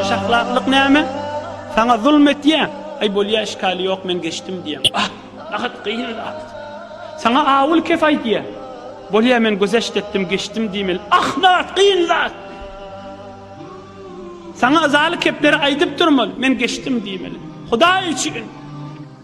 Hoşahlaklyk näme? Saňa zulm etýä? Aý bolýa işgali ýok men geçdim diýýäň. Ah, ahat gyn zat. Saňa awul kef aýdýa? Bolýa men gözeşt etdim geçdim diýmeli. Ah nahat gyn zat. Saňa yzaly kepleri aýdyp durmaly men geçdim diýmeli. Hudaý üçin.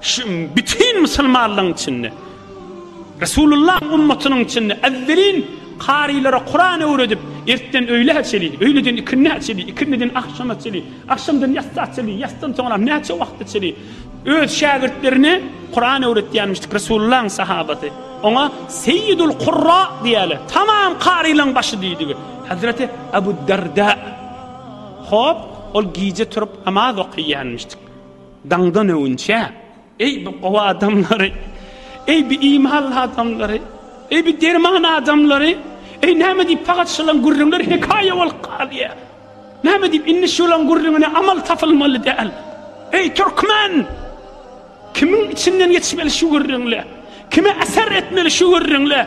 Şu bütin musulmanlaryň içinde, Resulullahyň ummatynyň içinde ezzelin karylara Kuran öwredip, ertden öýlä çenli, öýleden ikindä çenli, ikindiden agşama çenli, agşamdan ýatsa çenli, ýatsan soňram näçe wagta çenli öz şägirtlerine Kuran öwretýänmişdik Resulullahyň sahabasy. Oňa Seýidul Kurra diýýärler. Tamam karylaryň başy diýdigi. Hazreti Abu Darda. Hop, ol gije turup namaz okaýanmişdik. Daňdan öwünçä, eý, bu gowy adamlary! Eý, bu imanly adamlary! Eý, bu derman adamlary! Eý, näme diýip pagat şolaň gürrüňleri hekaýa bolup galýar? Näme diýip indi şolaň gürrüňine amal tapylmaly däl? Eý, türkmen! Kimiň içinden geçmeli şu gürrüňler? Kime äser etmeli şu gürrüňler?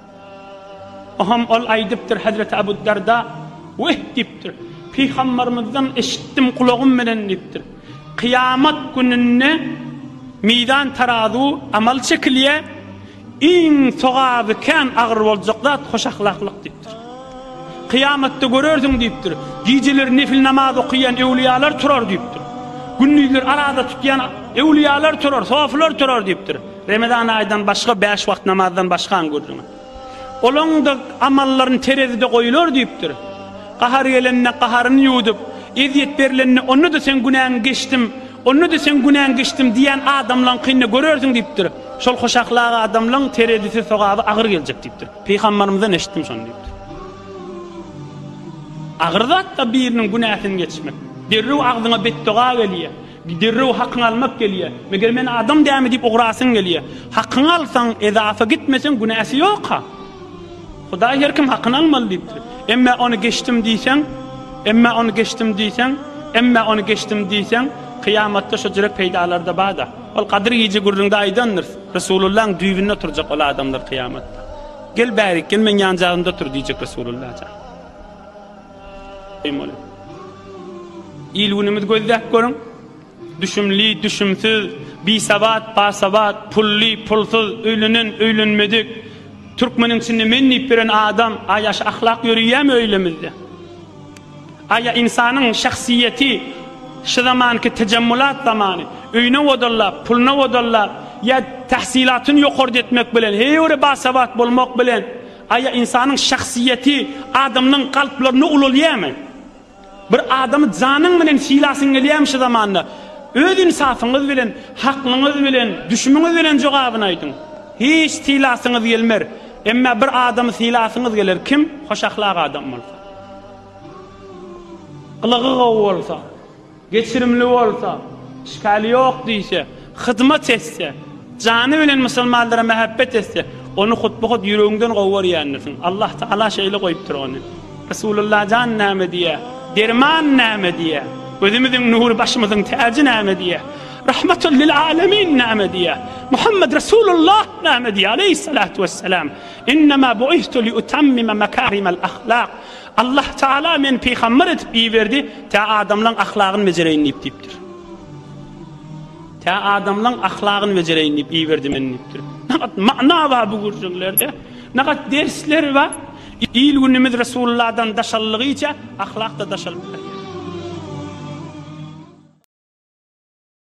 Aham ol aýdypdyr, Hezreti Abu Darda, Weh! diýipdir. Pygambarymyzdan eşitdim gulagym bilen diýipdir. Kyýamat gününde mizan tarazu, amal çekilýär, iň sogaby kän agyr boljak zat hoşahlaklyk diýipdir. Kyýamatda görersiň diýipdir, gijeleri nefil namaz okaýan öwliýalar turar diýipdir. Gündizleri araza tutýan öwliýalar turar, sofylar turar diýipdir. Remezan aýdan başga bäş wagt namazdan başgaň gürrüňi. Olaň-da amallaryny terezide goýular diýipdir. Gahary gelende gaharyny ýuwudyp, ezýet berilende onda-da seň günäňi geçdim, onda-da seň günäňi geçdim diýýän adamlaňkyny-da görersiň diýipdir. Şol hoşahlak adamlaň terezisi sogaby agyr geljek diýipdir. Pygambarymyzdan eşitdim şony diýipdir. Agyr zat-da biriniň günäsini geçmek. Derrew agzyňa betdoga gelýär. Derrew hakyňy almak gelýär. Meger men adam dämi diýip ugrasyň gelýär. Hakyňy alsaň, ezafa gitmeseň günäsi ýok-a. Hudaý her kim hakyny almaly diýipdir. Emmä ony geçdim diýseň, emmä ony geçdim diýseň, emmä ony geçdim diýseň, kyýamatda şo jürek peýdalary-da bar-da. Ol Gadyr gije gürrüňde aýdandyrys, Resulullaň düýbünde oturjak ol adamlar kyýamatda. Gel bärik, gel meň ýanjagymda otur diýjek Resululla jan. Beýmol. Il-günümizi gözläp görüň. Düşümli, düşümsiz, bisawat, basawat, pully, pulsuz, öýlenen, öýlenmedik. Türkmeniň içinde men diýip ýören adam, a ýa şu ahlak ýöreýärmi öýlemizde? A ýa ynsanyň şahsyýeti şu zamanky tejemmulat zamany, öýüne wodallap, puluna wodallap, ýa tahsylatyny ýokarda etmek bilen, heý öýle basawat bolmak bilen, Aýa ynsanyň şahsyýeti adamlaryň kalplarynda ulalýamy? Bir adamy janyň bilen sylasyň gelýämi şu zamanda? Öz ynsafyňyz bilen, haklyňyz bilen, düşümiňiz bilen jogabyny aýdyň. Hiç sylasyňyz gelmer. Emma bir adamy sylasyňyz geler, kim? Hoş ahlak adam bolsa. Gylygy gowy bolsa. Geçirimli bolsa, işgali ýok diýse, hyzmat etse, jany bilen musulmanlara mähebbet etse, ony hut-bu-hut ýüregiňden gowy görýändirsiň. Allah Tagala şeýle goýupdyr ony. Resulullah jan näme diýýär? Derman näme diýýär? Gözümiziň nury, başymyzyň täji näme diýýär? Rahmatul lil alemin näme diýýär? Muhammed Resulullah näme diýýär? Aleýhissalatu wessalam, Innema bu'ithtu liutammima makarimal ahlak. Allah Tagala meni pygamber edip iberdi, tä adamlaň ahlagyny bejereýin diýip diýipdir. Tä adamlaň ahlagyny bejereýin diýip iberdi meni diýipdir. Nagat mana bar bu gürjüňlerde. Nagat dersler bar. Il günümiz Resulullahdan daşallygyça ahlak da daşalyp barýar.